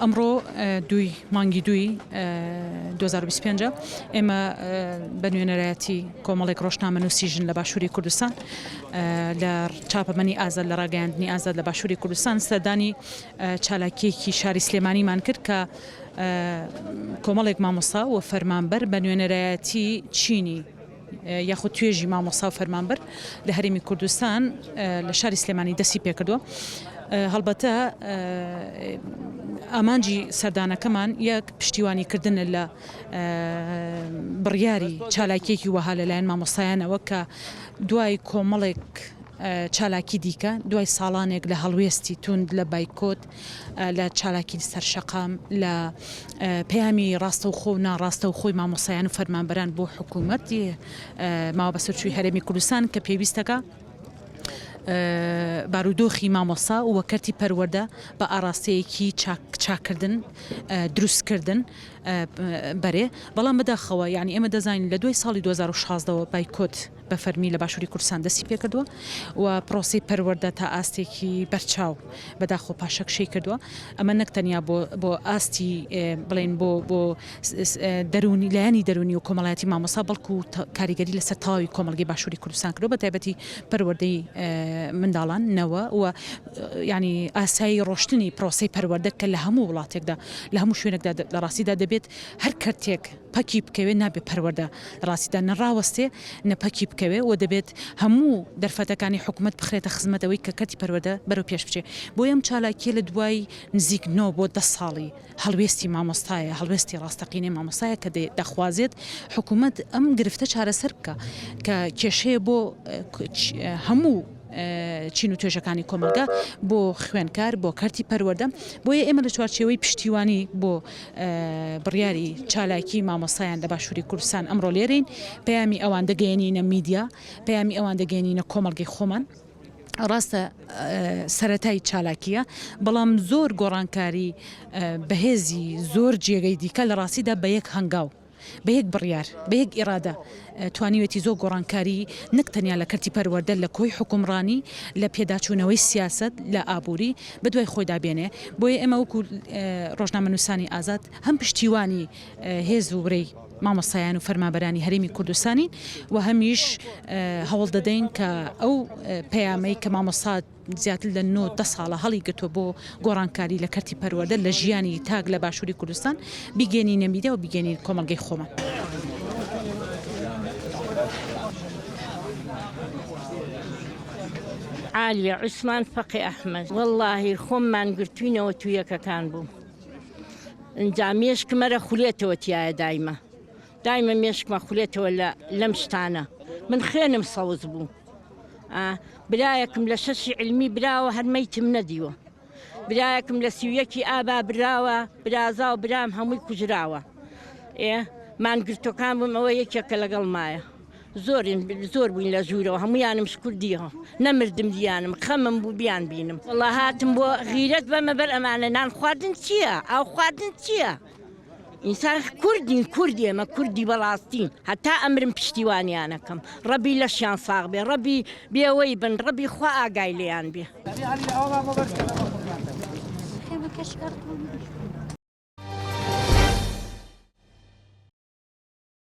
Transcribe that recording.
ئەمڕۆ دووی مانگی دووی 2025 ئێمە بە نوێنەرایەتی کۆمەڵێک ڕۆژنامە نووسی ژن لە باشووری کوردستان لە چاپەمەنی ئازاد لە ڕاگەاندنی ئازاد لە باشووری کوردستان سەردانی چالاکیەکی شاری سلێمانیمان کرد کە کۆمەڵێک مامۆستا و فەرمانبەر بە نوێنەرایەتی چینی یاخود توێژی مامۆستا و فەرمانبەر لە هەرێمی کوردستان لە شاری سلێمانی دەستی پێکردووە هەڵبەتە ئامانجی سەردانەکەمان یەک پشتیوانی کردنە لە بڕیاری چالاکیەکی وەها لەلایەن مامۆستایانەوە کە دوای کۆمەڵێک چالاکی دیکە دوای ساڵانێک لە هەڵوێستی توند لە بایکۆت لە چالاکی سەر شەقام، لە پەیامی ڕاستەوخۆ و ناڕاستەوخۆی مامۆستایان و فەرمانبەران بۆ حکوومەتی ماوە بەسەرچووی هەرێمی کوردستان کە پێویستەکە بارودۆخی مامۆسا و کەرتی پەروەەردە بە ئاراستەیەکی چاکردن دروستکردن بەرێ بەڵام بەداخەوە یعنی ئێمە دەزانین لە دوای ساڵی 2016ەوە بایکۆت بە فەرمی لە باشووری کوردستان دەستی پێکردووە و پرۆسەی پەروەردە تا ئاستێکی بەرچاو بەداخەوە پاشەکشەی کردووە، ئەمە نەک تەنیا بۆ بۆ ئاستی بڵێن بۆ بۆ دەروونی لایەنی دەروونی و کۆمەڵایەتی مامۆستا بەڵکو کاریگەری لەسەر تەواوی کۆمەڵگەی باشووری کوردستان کردووە بە تایبەتی پەروەردەی منداڵان نەوە و ینی ئاسایی ڕۆشتنی پرۆسەی پەروەردە کە لە هەموو وڵاتێکدا لە هەموو شوێنێکدا لە ڕاستیدا دەبێت هەر کەرتێک پەکی بکەوێ نابێ پەروەردە لە ڕاستیدا نە ڕاوەستێ نە پەکی بکەوێ و دەبێت هەموو دەرفەتەکانی حکومەت بخرێتە خزمەت ئەوەی کە کەرتی پەروەردە بەرەو پێش بچێ بۆیە ئەم چالاکیە لە دوای نزیک نۆ بۆ دە ساڵی هەڵوێستی مامۆستایە هەڵوێستی ڕاستەقینەی مامۆستایە کە دەخوازێت حکومەت ئەم گرفتە چارەسەر بکا کە کێشەیە بۆ هەموو چین و توێژەکانی کۆمەڵگە بۆ خوێنکار بۆ کەرتی پەروەردە، بۆیە ئێمە لە چوارچێوەی پشتیوانی بۆ بڕیاری چالاکی مامۆستایان لە باشوری کوردستان ئەمڕۆ لێرەین، پەیامی ئەوان دەگەیەنینە میدیا، پەیامی ئەوان دەگەیەنینە کۆمەڵگەی خۆمان، ڕاستە سەرەتای چالاکیە بەڵام زۆر گۆڕانکاری بەهێزی زۆر جێگەی دیکە لە ڕاستیدا بە یەک هەنگاو. بە یەک بڕیار، بە یەک ئیرادە توانیوێتی زۆر گۆڕانکاری نەک تەنیا لە کەرتی پەروەردە، لە کۆی حوکمڕانی، لە پێداچوونەوەی سیاسەت، لە ئابووری، بە دوای خۆیدا بێنێ. بۆیە ئێمە وەکوو ڕۆژنامەنووسانی ئازاد هەم پشتیوانی هێز و ورەی مامۆستایان و فەرمانبەرانی هەرێمی کوردستانین و هەمیش هەوڵ دەدەین کە ئەو پەیامەی کە مامۆستا زیاتر لە نۆ دە ساڵە هەڵیگرتووە بۆ گۆڕانکاری لە کەرتی پەروەردە لە ژیانی تاک لە باشووری کوردستان، بیگەێنینە میدیا و بیگەێنینە کۆمەڵگەی خۆمان. عالیە عوسمان فەقێ ئەحمەد، وەڵڵاهی خۆم مانگرتووینەوە توویەکەکان بووم ئنجا مێشکم ئەرە خولێتەوە تیایە دایمە. دایمە مێشکمە خولێتەوە لە لەم شتانە من خوێنم سەوز بوو برایەکم لە شەشی علمی براوە هەر مەیتم نەدیوە برایەکم لە سیویەکی ئابا براوە برازا و برام هەمووی کوژراوە ئێ مانگرتوەکان بم ئەوە یەکێکە لەگەڵ مایە زۆرین زۆر بووین لە ژوورەوە هەمویانم شکردیەوە نەمردم دیانم خەمم بوو بیان بینم وڵا هاتم بۆ غیرەت بەمە بەر ئەمانە نان خواردن چییە ئاو خواردن چییە؟ ئینسان کوردین کورد ئێمە کوردی بەڵاستین هەتا ئەمرم پشتیوانیانەکەم ڕەبی لەشیان ساغ بێ ڕەبی بێوەی بن ڕەبی خوا ئاگای لێیان بێ.